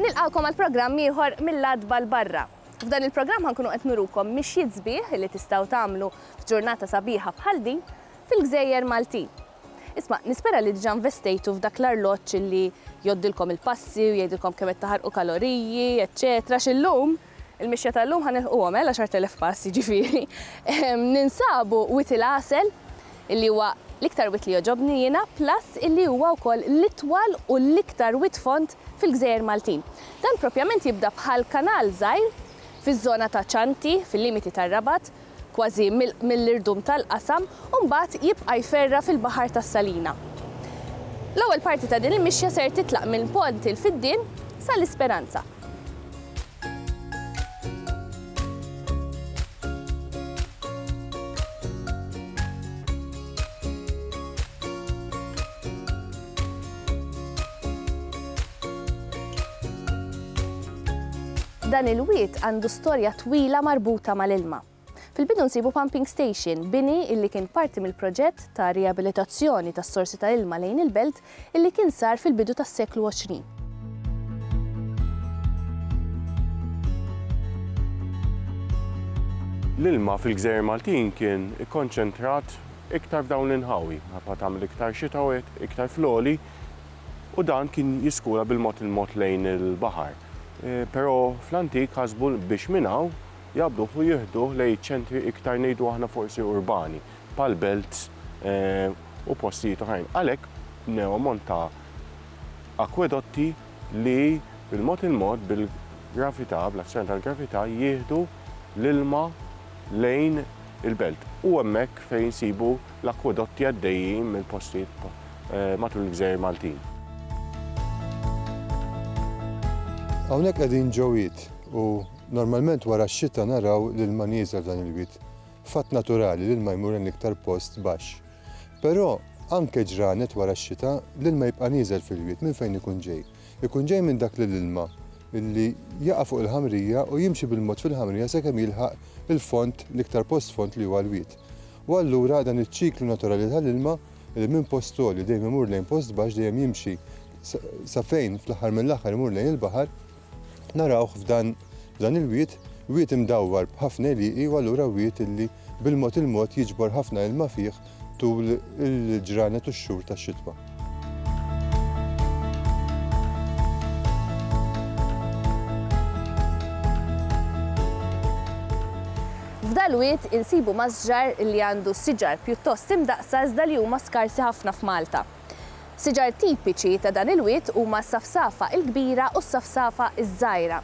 Nilqawkom għal programm ieħor mill-adba l-barra. F'dan il-programm ħankunu qed nurukom mixjiet sbieħ li tistgħu tagħmlu f'ġurnata sabiħa bħal din fil-gżejjer Maltin. Isma', nispera li diġà investejtu f'dak l-arloġġ li jgħoddilkom il-passi u jgħidilkom kemm qed taħarqu kaloriji, eċċetera għax illum, il-mixja ta' llum ħa nilħquhom, eh, l-għaxart elef pass, jiġifieri. Ninsabu wied il-għasel, illi huwa l-iktar wied li jogħġobni jiena, plus illi huwa wkoll l-itwal u l-iktar wied fond fil-gżejjer Maltin. Dan propjament jibda bħal kanal żgħir fiż-żona ta' Cianti, fil-limiti tar-Rabat, kważi mill-irdum tal-qasam, u mbagħad jibqa' jferra' fil-baħar tas-Salina. L-ewwel parti ta' din il-mixja ser titlaq minn Pont il-Fiddien sa l-Isperanza. Dan il-wied għandu storja twila marbuta mal-ilma. Fil-bidu nsibu pumping station, bini illi kien parti mill-proġett ta' riabilitazzjoni tas-sorsi ta' ilma lejn il-belt illi kien sar fil-bidu tas-seklu 20. L-ilma fil-gżejjer Maltin kien ikkonċentrat iktar f'dawn l-inħawi, minħabba tagħmel iktar xita u hekk, iktar fl-għoli, u dan kien jiskura bil-mod il-mod lejn il-baħar. Però fl-antik ħasbu biex minn hawn jaqbduh u jieħduh lejn iċ-ċentri iktar ngħidu aħna forsi urbani, bħall-belts u postijiet oħrajn. Għalhekk bnew ammont ta' akwedotti li bil-mod il-mod, bil-gravità, bl-azzjoni tal-gravità, jieħdu l-ilma lejn il-belt. U hemmhekk fejn insibu l-akkwedotti għaddejjin minn postijiet matul il-gżejjer Maltin. Hawnhekk qegħdin ġo wied u normalment wara x-xita naraw l-ilma nieżel f'dan il-wied. Fatt naturali, l-ilma jmur lejn l-iktar post baxx. Però anke ġranet wara x-xita, l-ilma jibqa' nieżel fil-wied. Minn fejn ikun ġej? Ikun ġej minn dak li l-ilma illi jaqa' fuq il-ħamrija u jimxi bil-mod fil-ħamrija sakemm jilħaq il-fond, l-iktar post fond li huwa l-wied. U allura dan iċ-ċiklu naturali tal-ilma illi minn post għoli dejjem imur lejn post baxx dejjem jimxi sa fejn fl-aħħar mill-aħħar imur lejn il-baħar, narawh f'dan f'dan il-wied, wied imdawwar b'ħafna għelieqi u allura wied illi bil-mod il-mod jiġbor ħafna ilma fih tul il-ġranet u x-xhur tax-xitwa. F'dal-wied insibu masġar li għandu siġar pjuttost imdaqqsa iżda li huma skarsi ħafna f'Malta. Siġar tipiċi ta' dan il-wied huma s-safsafa il-kbira u s-safsafa iż-żgħira,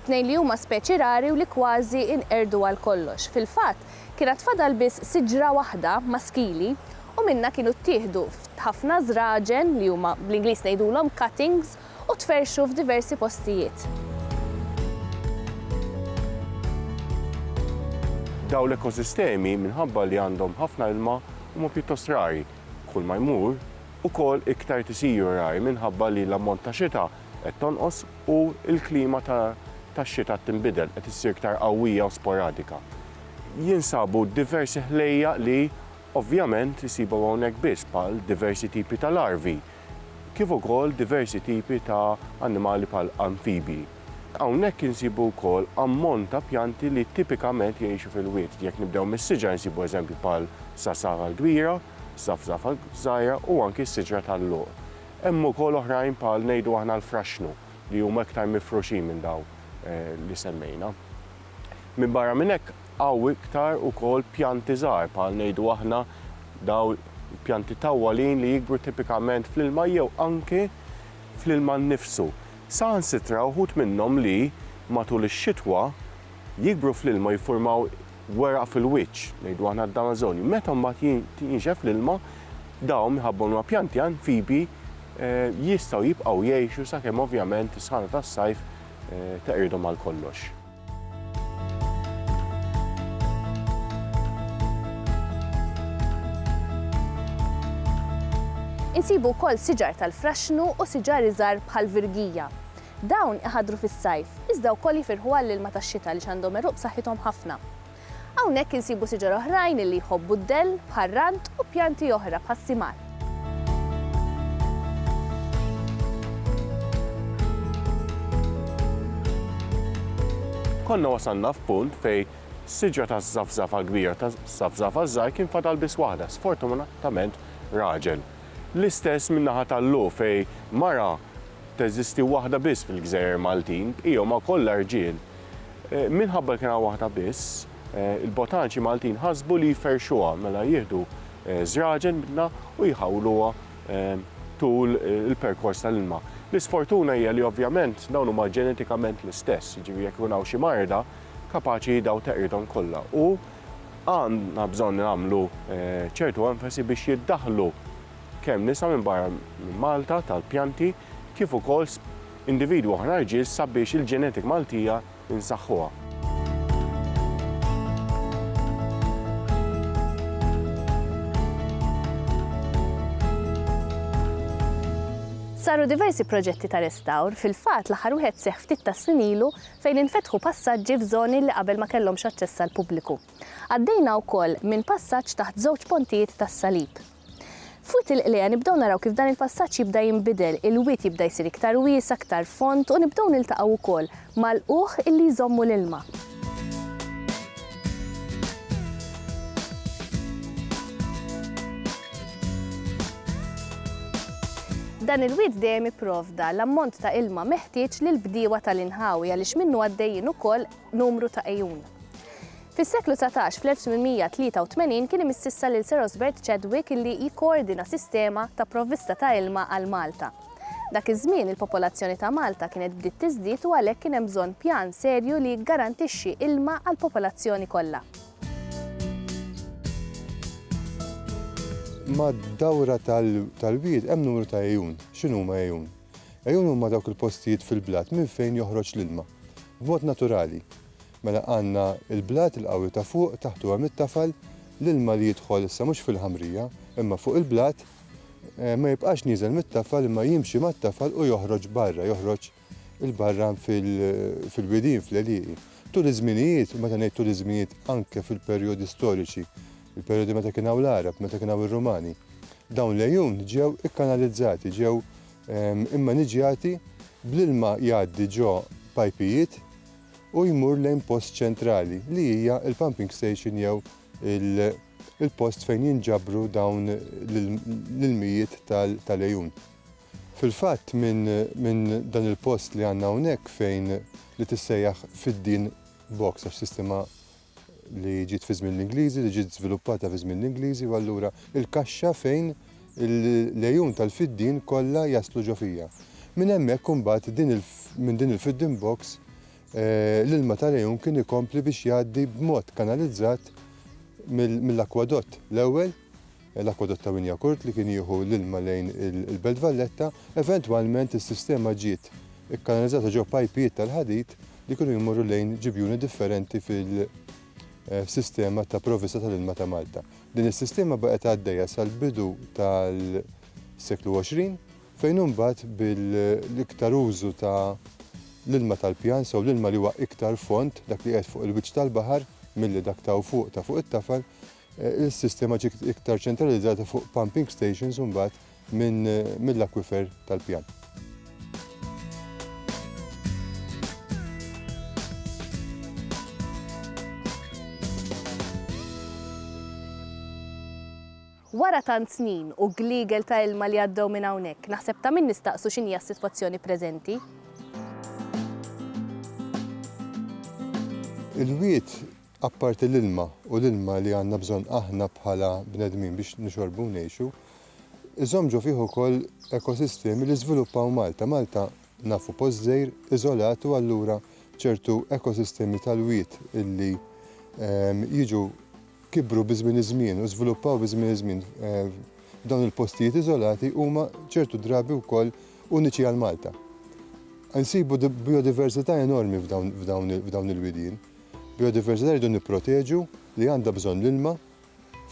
it-tnejn li huma speċi rari u li kważi inqerdu għal kollox. Fil-fatt, Kienet fadal biss siġra waħda maskili u minnha kienu ttieħdu ħafna żraġen li huma bl-Ingliż ngħidulhom cuttings u tferrxu f'diversi postijiet. Dawn l-ekosistemi minħabba li għandhom ħafna ilma huma pjuttost rari. Kull ma jmur, ukoll iktar qed isiru rari minħabba li l-ammont ta' xita qed tonqos u l-klima tax-xita qed tinbidel, qed issir iktar qawwija u sporadika. Jinsabu diversi ħlejjaq li ovvjament isibu hawnhekk biss bħal diversi tipi ta' larvi kif ukoll diversi tipi ta' annimali bħal anfibji. Hawnhekk insibu wkoll ammont ta' pjanti li tipikament jgħixu fil-wied. Jekk nibdew mis-siġar insibu eżempji bħal sassafra l-kbira, safsafa żgħira u anki s-siġra tal-luq. Hemm ukoll oħrajn bħal ngħidu aħna l-fraxxnu li huma iktar mifruxin minn dawn li semmejna. Minbarra minn hekk hawn iktar ukoll pjanti żgħar bħal ngħidu aħna dawn il-pjanti tawwalin li jikbru tipikament fl-ilma jew anki fl-ilma nnifsu. Saħansitra uħud minnhom li, matul ix-xitwa, jikbru fl-ilma u jiffurmaw weraq fil-wiċċ, ngħidu aħna d-damażonju. Meta mbagħad jinxef l-ilma, dawn minħabba huma pjanti anfibi jistgħu jibqgħu jgħixu sakemm ovvjament is-sħana tas-sajf teqridhom għal kollox. Insibu wkoll siġar tal-fraxxnu u siġar iżgħar bħall-virgija. Dawn iħaddru fis-sajf, iżda wkoll jifirħu għall-ilma tax-xita għaliex għandhom għeruq b'saħħithom ħafna. Hawnhekk insibu siġar oħrajn li jħobbu d-dell, bħar-rand u pjanti oħra bħas-simar. Konna wasalna f'punt fejn siġra taż-żafżafa kbira ta' żafżafa żgħir kien fadal biss waħda, sfortunatament raġel. L-istess min-naħa tal-Lu fejn mara Teżisti waħda biss fil-gżejjer Maltin, bqija huma kollha rġiel. Minħabba li kien hawn waħda biss, il-botaniċi Maltin ħasbu li jferrxuha, mela jieħdu żraġen minnha u jħawluha tul il-perkors tal-ilma. L-isfortuna hija li ovvjament dawn huma ġenetikament l-istess, jiġifieri jekk ikun hawn xi marda, kapaċi dawn teqridhom kollha u għandna bżonn nagħmlu ċertu enfasi biex jiddaħħlu. kemm nisa minn barra minn Malta tal-pjanti kif ukoll individwi oħra rġiel sabiex il-genetic Maltija nsaħħuha. Saru diversi proġetti ta' restawr, fil-fatt l-aħħar wieħed seħħ ftit tas-snin ilu fejn infetħu passaġġi f'żoni li qabel ma kellhomx aċċess għall-pubbliku. Għaddejna wkoll minn passaġġ taħt żewġ pontijiet tas-Salib. F'Wied il-Qliegħa nibdew naraw kif dan il-passaġġ jibda jinbidel, il-wied jibda jsir iktar wiesgħa, aktar fond u nibdew niltaqgħu wkoll mal-lqugħ illi jżommu l-ilma. Dan il-wied dejjem ipprovda l-ammont ta' ilma meħtieġ lill-bdiewa tal-inħawi għaliex minnu għaddejjin ukoll numru ta' għejun. Fis-seklu dsatax, fl-1883, kien imississa lil Sir Osbert Chadwick illi jikkoordina sistema ta' provvista ta' ilma għal Malta. Dak iż-żmien il-popolazzjoni ta' Malta kienet bdiet tiżdied u għalhekk kien hemm bżonn pjan serju li jiggarantixxi ilma għall-popolazzjoni kollha. Mad-dawra tal-wied hemm numru ta' għejun. X'inhuma għejun? Għejun huma dawk il-postijiet fil-blat minn fejn joħroġ l-ilma, b'mod naturali. Mela għandna il-blat, il-qawwi ta' fuq, taħtu hemm it-tafal, l-ilma li jidħol issa mhux fil-ħamrija, imma fuq il-blat, ma jibqax nieżel mit-tafal imma jimxi mat-tafal u joħroġ barra, joħroġ 'il barra fil-widien, fl-għelieqi. Tul iż-żminijiet, u meta ngħid tul iż-żminijiet anke fil-perjodi storiċi, il-perjodi meta kien hawn l-Għarab, meta kien hawn ir-Rumani, dawn l-għejun ġew ikkanalizzati, ġew immaniġjati bl-ilma jgħaddi ġo pajpijiet, u jmur lejn post ċentrali li hija l-pumping station jew il-post fejn jinġabru dawn l-ilmijiet tal-għejun. Fil-fatt minn dan il-post li għandna hawnhekk fejn li tissejjaħ fid-din box għax sistema li ġiet fi żmien l-Ingliżi, li ġiet żviluppata fi żmien l-Ingliżi u allura il-kaxxa fejn l-għejun tal-fiddien kollha jaslu ġo fija. Minn hemmhekk imbagħad minn din il-fiddin box eh, l-ilma tal-għejun kien ikompli biex jgħaddi b'mod kanalizzat mill-akwadott l-ewwel l-akwadott ta' Wynyacourt li kien jieħu l-ilma lejn il-Belt Valletta, eventwalment is-sistema ġiet ikkanalizzata ġo pajpijiet tal-ħadid li kienu jmorru lejn ġibjuni differenti fil-sistema ta' provvista tal-ilma ta' Malta. Din is-sistema baqgħet għaddejja sal-bidu tal-seklu 20 fejn imbagħad bil-iktar użu ta' l-ilma tal-pjan, so l-ilma li huwa iktar fond, dak li qiegħed fuq il-wiċċ tal-baħar, milli dak t'hawn fuq ta' fuq it-tafal, Is-sistema ġiet iktar ċentralizzata fuq pumping stations u mbagħad mill-akwifer tal-pjan. Wara tant snin u gliegel ta' ilma li għaddew minn hawnhekk, naħseb ta' min nistaqsu x'inhija s-sitwazzjoni preżenti. Il-wied Apparti l-ilma, u l-ilma li għandna bżonn aħna bħala bnedmin biex nixorbu u ngħixu, iżomm ġo fih ukoll ekosistemi li żviluppaw Malta. Malta nafu post żgħir, iżolat u allura ċertu ekosistemi tal-wied illi jiġu kibru bi żmien iż-żmien u żviluppaw bi żmien iż-żmien f'dawn il-postijiet iżolati huma ċertu drabi wkoll uniċi għal Malta. Insibu bijodiversità enormi f'dawn il-widien. Biodiversità rridu nipproteġu li għandha bżonn l-ilma.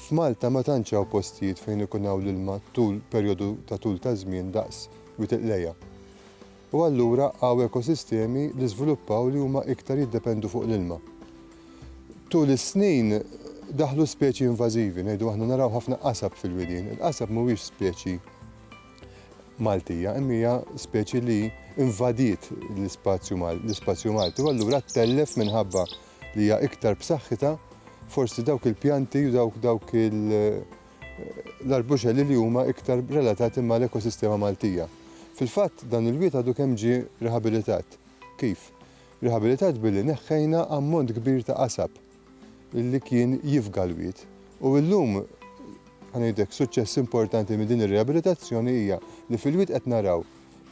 F'Malta ma tantx hawn postijiet fejn ikun hawn l-ilma tul perjodu ta' tul ta' żmien daqs Wied il-Qlejha. U allura hawn ekosistemi li żviluppaw li huma iktar jiddependu fuq l-ilma. Tul is-snin daħlu speċi invażivi, ngħidu aħna naraw ħafna qasab fil-widien. Il-qasab mhuwiex speċi. Maltija, imma hija speċi li invadiet l-ispazju l-ispazju Malti u allura ttellef minħabba li hija iktar b'saħħitha forsi dawk il-pjanti u dawk dawk l-arbuxelli li huma iktar relatati mal-ekosistema Maltija. Fil-fatt dan il-wied għadu kemm ġie rihabilitat. Kif? Rihabilitat billi neħħejna ammont kbir ta' qasab. li kien jifga l-wied. U illum, ħa ngħidlek, suċċess importanti minn din ir-riabilitazzjoni hija li fil-wied qed naraw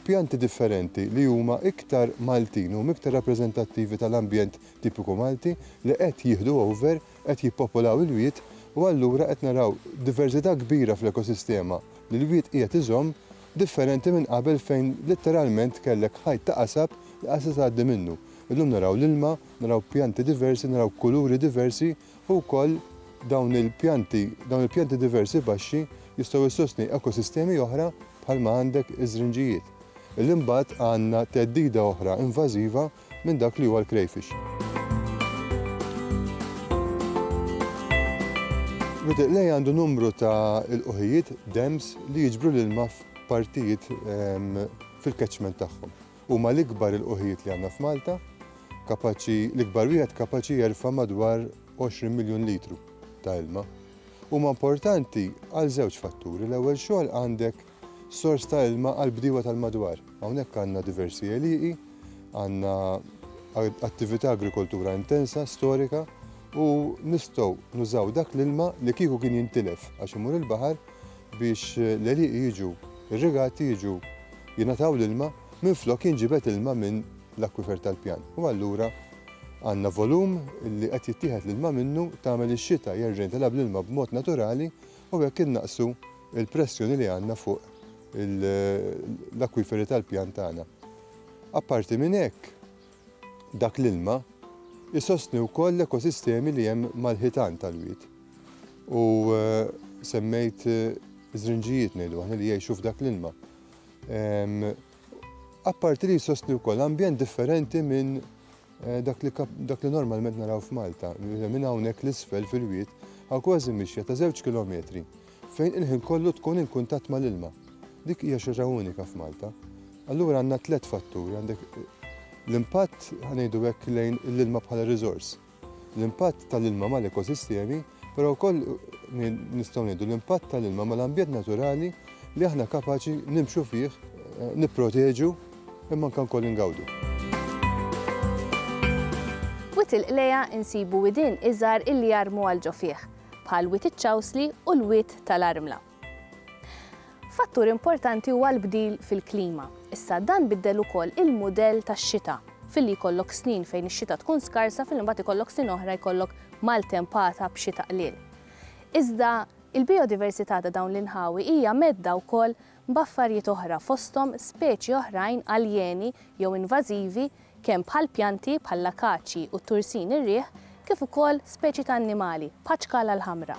pjanti differenti li huma iktar Maltin, huma iktar rappreżentattivi tal-ambjent tipiku Malti li qed jieħdu over, qed jippopolaw il-wied u allura qed naraw diverżità kbira fl-ekosistema li l-wied qiegħed iżomm differenti minn qabel fejn litteralment kellek ħajt ta' qasab li qaset tgħaddi minnu. Illum naraw l-ilma, Naraw pjanti diversi, naraw kuluri diversi u wkoll dawn il-pjanti, dawn il-pjanti diversi baxxi jistgħu jsostni ekosistemi oħra bħalma għandek iż-żrinġijiet. Illi mbagħad għandna theddida oħra invażiva minn dak li huwa l-crayfish. Rutiq lej għandu numru ta' ilqħijiet, dams, li jiġbru l-ilma f'partijiet ehm, fil-catchment tagħhom. Huma l-ikbar ilqugħijiet li għandna f'Malta, kapaċi, l-ikbar wieħed kapaċi jerfa' madwar 20 miljun litru ta' ilma. Huma importanti għal żewġ fatturi, l-ewwel xogħol għandek sors ta' ilma għal bdiewa tal-madwar. Hawnhekk għandna diversi għelieqi, għandna attività agrikoltura intensa, storika, u nistgħu nużaw dak l-ilma li kieku kien jintilef għax imur il-baħar biex l-għelieqi jiġu irrigati jiġu jingħataw l-ilma minflok jinġibed ilma minn l-akwifer tal-pjan. U allura għandna volum li qed jittieħed l-ilma minnu tagħmel ix-xita jerġa' jintilgħa bl-ilma b'mod naturali u hekk innaqsu l-pressjoni li għandna fuq l-akwiferi tal-pjan tagħna. Apparti minn hekk, Dak l-ilma jsostni wkoll l-ekosistemi li hemm mal-ħitan tal-wied. U semmejt żrinġijiet ngħidu aħna li jgħixu f'dak l-ilma. Apparti li jsostni wkoll ambjent differenti minn Eh, dak li normalment naraw f'Malta, minn hawnhekk l-isfel fil-wiet, għaw kważi mixja ta' żewġ kilometri fejn il-ħin kollu tkun in kuntatt mal-ilma. Dik hija xi ħaġa unika f'Malta. Allura għandna tliet fatturi, għandek l-impatt ħa ngħidu hekk lejn l-ilma bħala riżors, l-impatt tal-ilma mal-ekosistemi, però wkoll nistgħu ngħidu l-impatt tal-ilma mal-ambjent naturali li aħna kapaċi nimxu fih, eh, nipproteġu imma anke wkoll ingawdu. Wit il-qleja insibu widin iżgħar illi jarmu għal ġo fih. bħal Wied iċ-Ċawsli u l-Wied tal-Armla. Fattur importanti huwa l-bdil fil-klima. Issa dan biddel ukoll il-mudell tax-xita filli jkollok snin fejn ix-xita tkun skarsa filli mbagħad ikollok snin oħra jkollok maltempata b'xita qliel. Iżda il-biodiversità ta' dawn l-inħawi hija medda wkoll b'affarijiet oħra fosthom speċi oħrajn aljeni jew invażivi kemm bħal pjanti bħall-akaċji u t-tursin ir-riħ kif ukoll speċi ta' annimali bħaċ-ċkala l-ħamra.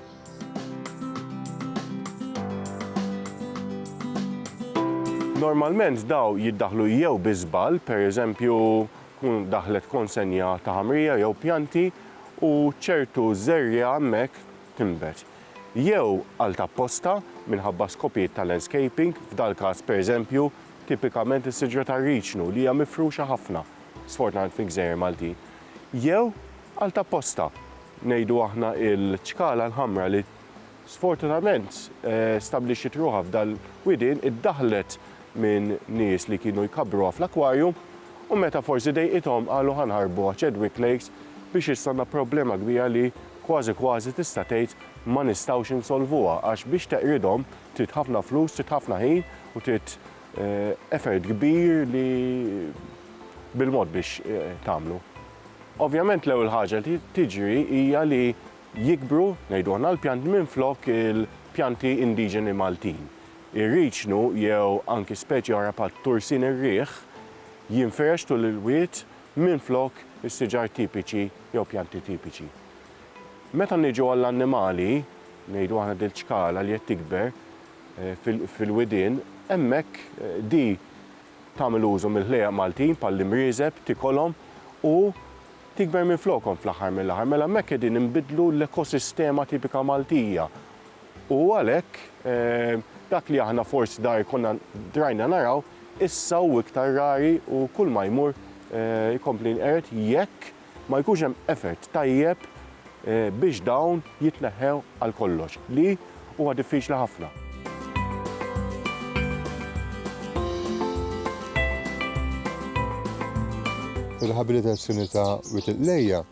Normalment daw jiddaħħlu jew bi żball, pereżempju tkun daħlet konsenja ta' ħamrija jew pjanti u ċertu żerriegħa hemmhekk tinbet jew għal ta' apposta minħabba skopijiet ta' landscaping, f'dal-każ, pereżempju, tipikament is-siġra tar-riċnu li hija mifruxa ħafna, sfortunatament fil-gżejjer Maltin, jew għal ta' apposta, ngħidu aħna l-ċkala l-ħamra li sfortunatament stabbilixxiet ruħha f'dal-widien, iddaħħlet minn nies li kienu jkabbruha fl-akwarjum u meta forsi dejqithom qalu ħa nħarbuha Chedwick Lakes biex issa għandna problema kbira li kważi kważi tista' tgħid ma nistgħux insolvuha għax biex teqridhom trid ħafna flus, trid ħafna ħin u trid effort kbir li bil-mod biex tagħmlu. Ovvjament l-ewwel ħaġa li tiġri hija li jikbru, ngħidu aħna l-pjanti minflok il-pjanti indiġeni Maltin. Ir-riċnu jew anki speċi oħra bħat-tursin ir-riħ jinfirex tul il-wied minflok is-siġar tipiċi jew pjanti tipiċi. Meta niġu għall-annimali, ngħidu aħna dil ċkala li qed tikber fil-widien, hemmhekk di tagħmel użu mill-ħlejjaq Maltin bħall-imrieżeb, tikolhom u tikber minflokhom fl-aħħar mill-aħħar. Mela hemmhekk qegħdin inbiddlu l-ekosistema tipika Maltija. U għalhekk, dak li aħna forsi dai konna drajna naraw, issa hu iktar rari u kull ma jmur jkompli jinqered jekk ma jkunx hemm effort tajjeb biex dawn jitneħħew għal kollox, li huwa diffiċli ħafna. Ir-riħabilitazzjoni ta' Wied il-Qlejja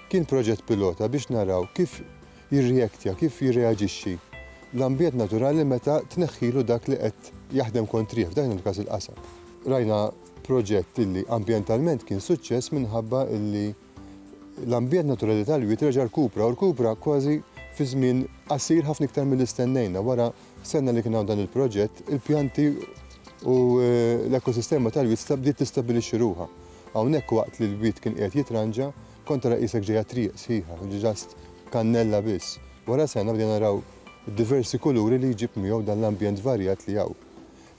kien proġett pilota biex naraw kif jirreactja, kif jirreaġixxi, l-ambjent naturali meta tneħħilu dak li qed jaħdem kontrih, f'dan il-każ il-qasam. Rajna proġett illi ambjentalment kien suċċess minħabba illi l-ambjent naturali tal-wied reġa' rkupra u rkupra kważi fi żmien qasir ħafna iktar milli stennejna. Wara sena li kien hawn dan il-proġett, il-pjanti u eh, l-ekosistema tal-wied bdiet tistabilixxi ruha. Hawnhekk waqt li l-wied kien qiegħed jitranġa, Kont ara qisek ġej għat-triq sħiħa, ġast kannella biss. Wara sena bdejna naraw diversi kuluri li jġib miegħu dan l-ambjent varjat li hawn.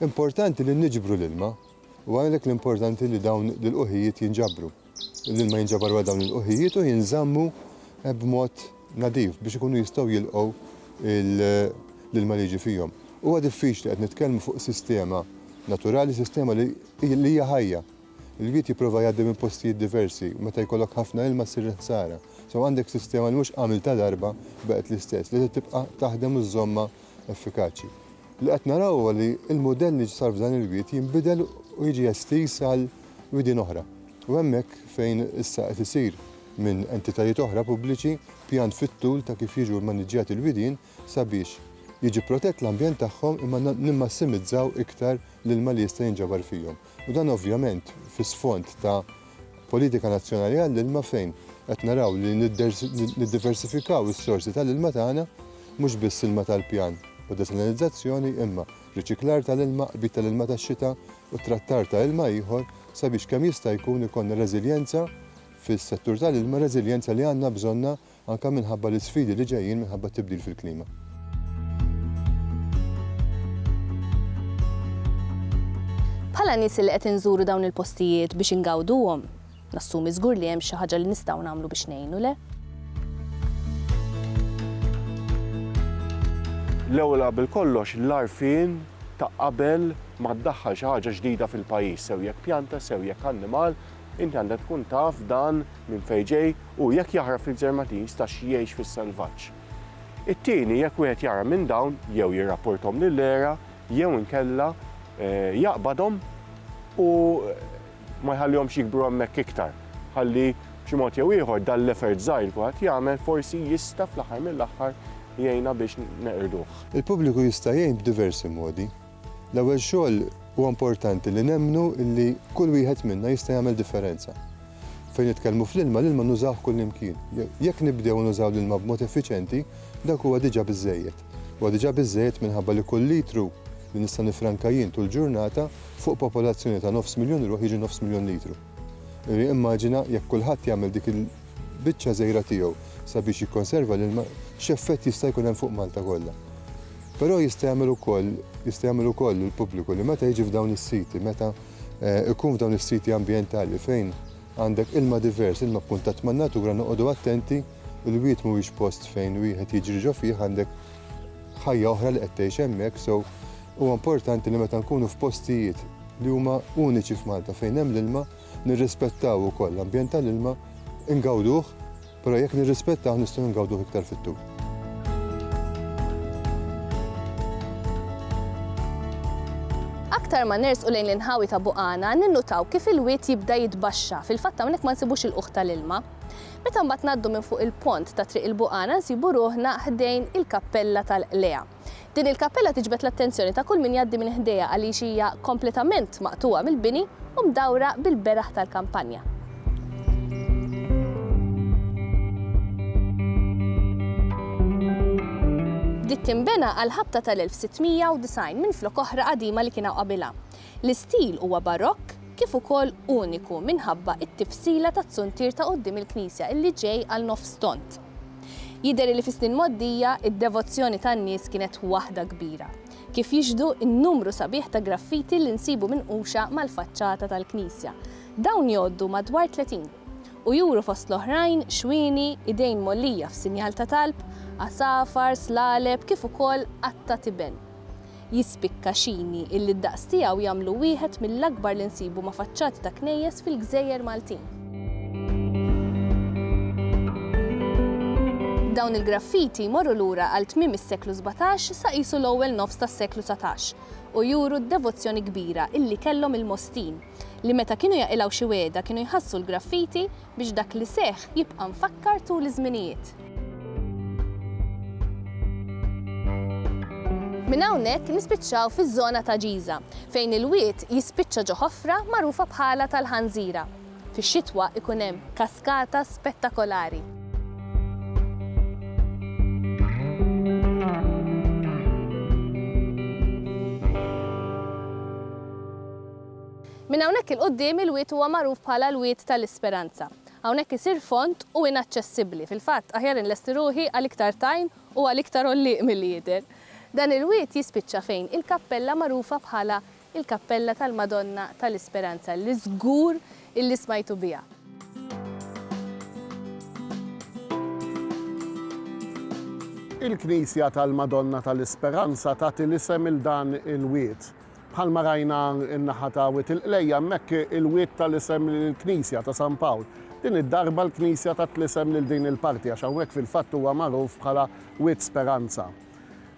Importanti li niġbru l-ilma u għalhekk l-importanti li dawn l-ilqugħijiet jinġabru. L-ilma jinġabar wara dawn l-ilqugħijiet u jinżammu b'mod nadif biex ikunu jistgħu jilqgħu l-ilma li jiġi fihom. Huwa diffiċli qed nitkellmu fuq sistema naturali, sistema li hija ħajja. Il-wied jipprova jgħaddi minn postijiet diversi u meta jkollok ħafna ilma ssir il-ħsara. So għandek sistema li mhux għamiltha darba u baqgħet l-istess, li trid tibqa' taħdem u żżommha effikaċi. Li qed naraw huwa li l-mudell li sar f'dan il-wied jinbidel u jiġi estiż għal widien oħra. U hemmhekk fejn issa qed isir minn entitajiet oħra pubbliċi pjan fit-tul ta' kif jiġu mmaniġġjati l-widien sabiex jiġi protett l-ambjent tagħhom imma nimmassimizzaw iktar l-ilma li jista' jinġabar fihom. u dan ovvjament fi sfond ta' politika nazzjonali għall-ilma fejn qed naraw li niddiversifikaw is-sorsi tal-ilma tagħna mhux biss ilma tal-pjan u desalinizzazzjoni imma riċiklar tal-ilma, qbid tal-ilma tax-xita u trattar ta' ilma ieħor sabiex kemm jista' jkun ikollna reżiljenza fis-settur tal-ilma, reżiljenza li għandna bżonnha anke minħabba l-isfidi li ġejjin minħabba t-tibdil fil-klima. Bħala nies li qed inżuru dawn il-postijiet biex ingawduhom, nassumi żgur li hemm xi ħaġa li nistgħu nagħmlu biex ngħinu, le? L-ewwel qabel kollox l-għarfien ta' qabel ma ddaħħal xi ħaġa ġdida fil-pajjiż, sew jekk pjanta, sew jekk annimal, Inti għandek tkun taf dan minn fejn ġej u jekk jaħrab fil-Gżermatis ta' xi jgħix fis-selvaġġ. It-tieni jekk wieħed jara minn dawn jew jirrapporthom lill-ERA jew inkella jaqbadhom u ma jħallihomx jikbru hemmhekk iktar ħalli b'xi mod jew ieħor dan l-effort żgħir li kulħadd jagħmel forsi jista' fl-aħħar mill-aħħar jgħinna biex neqirduh. Il-pubbliku jista' jgħin b'diversi modi. L-ewwel xogħol huwa importanti li nemmnu li kull wieħed minna jista' jagħmel differenza. Fejn nitkellmu fl-ilma, l-ilma nużawh kullimkien. Jekk nibdew nużaw l-ilma b'mod effiċjenti, dak huwa diġà biżżejjed. Huwa diġà biżżejjed minħabba li kull litru li nista' nifranka jien tul ġurnata fuq popolazzjoni ta' nofs miljun ruħ jiġi nofs miljun litru. Immaġina jekk kulħadd jagħmel dik il-biċċa żgħira tiegħu sabiex jikkonserva l-ilma, x'effett jista' jkun hemm fuq Malta kollha. Però jista' jagħmel ukoll, jista' jagħmel ukoll il-pubbliku li meta jiġi f'dawn is-siti, meta jkun f'dawn is-siti ambjentali fejn għandek ilma divers, ilma kkuntatt man-natura, noqogħdu attenti, il-wied mhuwiex post fejn wieħed jiġri ġo fih, għandek ħajja oħra li qed tgħix hemmhekk, so huwa importanti li meta nkunu f'postijiet li huma uniċi f'Malta fejn hemm l-ilma, nirrispettaw ukoll l-ambjent tal-ilma, ingawduh, però jekk nirrispettawh nistgħu ingawduh iktar fit-tul. Aktar ma nersqu lejn l-inħawi ta' Buqana, ninnutaw kif il-wied jibda jitbaxxa, fil-fatt hawnhekk ma nsibux il-ħuħ tal-ilma. Meta mbagħad ngħaddu minn fuq il-pont ta' Triq il-Buqana nsibu ruħna ħdejn il-Kappella tal-Qliegħa. Din il-kappella tiġbed l-attenzjoni ta' kull min jgħaddi minn ħdejha għaliex hija kompletament maqtugħa mill-bini u mdawra bil-beraħ tal-kampanja. Bdiet tinbena għall-ħabta tal-1690 minflok oħra qadima li kienu qabilha. L-istil huwa Barokk kif ukoll uniku minħabba t-tifsila tat-zuntier ta' quddiem il-knisja illi ġej għal nofs tond. Jidher li fis-snin mgħoddija d-devozzjoni tan-nies kienet waħda kbira, kif jixhdu n-numru sabiħ ta' graffiti li nsibu minquxa mal-faċċata tal-knisja. Dawn jgħoddu madwar tletin, u juru fost l-oħrajn xwieni, idejn mgħollija f'sinjal ta' talb, għasafar, slaleb kif ukoll qatta' tiben. Jispikka xini illi d-daqs tiegħu jagħmlu wieħed mill-akbar li nsibu ma' faċċati ta' knejjes fil-gżejjer Maltin. Dawn il-graffiti jmorru lura għal tmiem is-seklu sbatax sa qisu l-ewwel nofs tas-seklu dsatax u juru d-devozzjoni kbira illi kellhom il-Mostin, li meta kienu jaqilgħu xi wegħda kienu jħassru l-graffiti biex dak li seħħ jibqa' mfakkar tul iż-żminijiet. Minn hawnhekk nispiċċaw fiż-żona ta' Ġiża, fejn il-wied jispiċċa ġo ħofra magħrufa bħalha tal-Ħanżira. Fix-xitwa jkun hemm kaskata spettakolari. Minn hawnhekk 'il quddiem il-Wied huwa magħruf bħala l-Wied ta' l-Isperanza. Hawnhekk isir fond u inaċċessibbli. Fil-fatt, aħjar inlesti ruħi għal iktar tajn u għal iktar għollieq milli jidher. Dan il-Wied jispiċċa fejn il-kappella magħrufa bħala l-Kappella tal-Madonna ta' l-Isperanza li żgur illi smajtu biha. Il-Knisja tal-Madonna ta' l-Isperanza tagħti l-isem 'il dan il-Wied. Bħalma rajna n-naħa ta' Wied il-Qlejja hemmhekk il-Wied ta l-isem lill-Knisja ta' San Pawl. Din id-darba l-Knisja tat l-isem lil din il-parti għax hawnhekk fil-fatt huwa magħruf bħala Wied Speranza.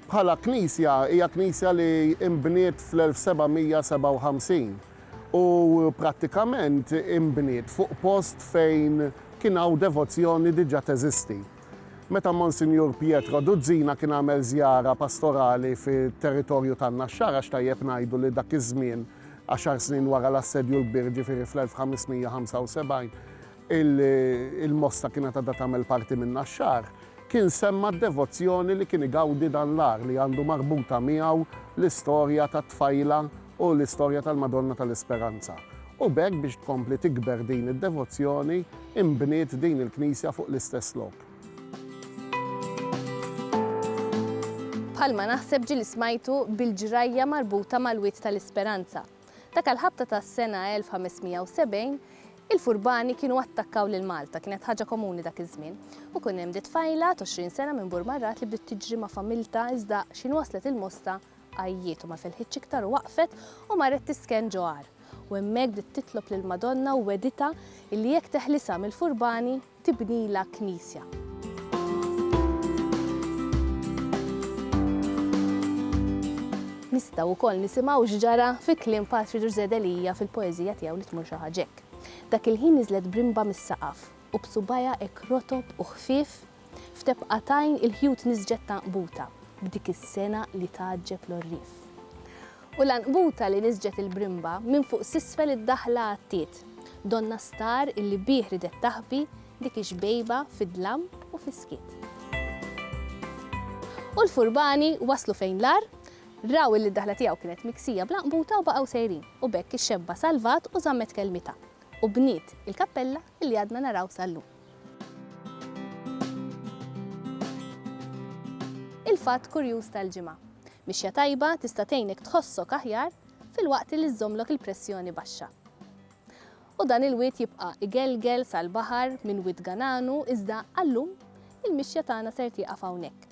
Bħala Knisja hija Knisja li inbniet fl-1757 u prattikament inbniet fuq post fejn kien hawn devozzjoni diġa teżisti. Meta Monsinjur Pietro Duzzina kien għamel żjara pastorali fit-territorju tan-Naxxara x'tajjeb ngħidu li dak iż-żmien, għaxar snin wara l-Assedju l-Kbir ġifieri fl-1575, il-Mosta kienet għadha tagħmel parti min-Naxxar, kien semma d-devozzjoni li kien igawdi dan l-għar li għandu marbuta miegħu l-istorja tat-tfajla u l-istorja tal-Madonna tal-Isperanza, u b'hekk biex tkompli tikber din id-devozzjoni, inbniet din il-knisja fuq l-istess lok. Bħalma naħseb ġie li smajtu bil-ġrajja marbuta mal-Wied tal-Isperanza. Dak l-Ħabta tas-sena 1570, il-furbani kienu attakkaw lil Malta, kienet ħaġa komuni dak iż-żmien, u kien hemm di tfajla t'għoxrin sena minn Burmarrat li bdiet tiġri ma' familtha iżda x'ħin waslet il-Mosta Għajjiet u ma felħitx iktar u waqfet u marret tisken ġo għar. U hemmhekk bdiet titlob lill-Madonna u wegħditha illi jekk teħlisha mill-furbani tibnilha knisja. Nistgħu wkoll nisimgħu x'ġara fi kliem Patri Ġużè Delia fil-poeżija tiegħu Li Tmur Xi Ħaġa Hekk. Dak il-ħin niżlet brimba mis-saqaf. u b'subgħajha hekk rotob u ħfief, f'tebqa t'għajn il-ħjut niżġet t'għanqbuta b'dik is-sengħa li tgħaġġeb l-għorrief. U l-għanqbuta li niżġet il-brimba minn fuq s'isfel id-daħla għattiet donnha star illi bih ridet taħbi dik ix-xbejba fid-dlam u fis-skiet. U l-furbani waslu fejn l-għar, raw illi d-daħla tiegħu kienet miksija bl-għanqbuta u baqgħu sejrin u b'hekk ix-xebba salvat u żammet kelmitha. u bniet il-kappella li għadna naraw sal-lum. Il-fatt kurjuż tal-ġimgħa, mixja tajba tista' tgħinek tħossok aħjar filwaqt li żżommlok il-pressjoni baxxa. U dan il-wied jibqa' igelgel sal-baħar minn Wied Gananu iżda għal-lum il-mixja tagħna ser tieqaf hawnhekk.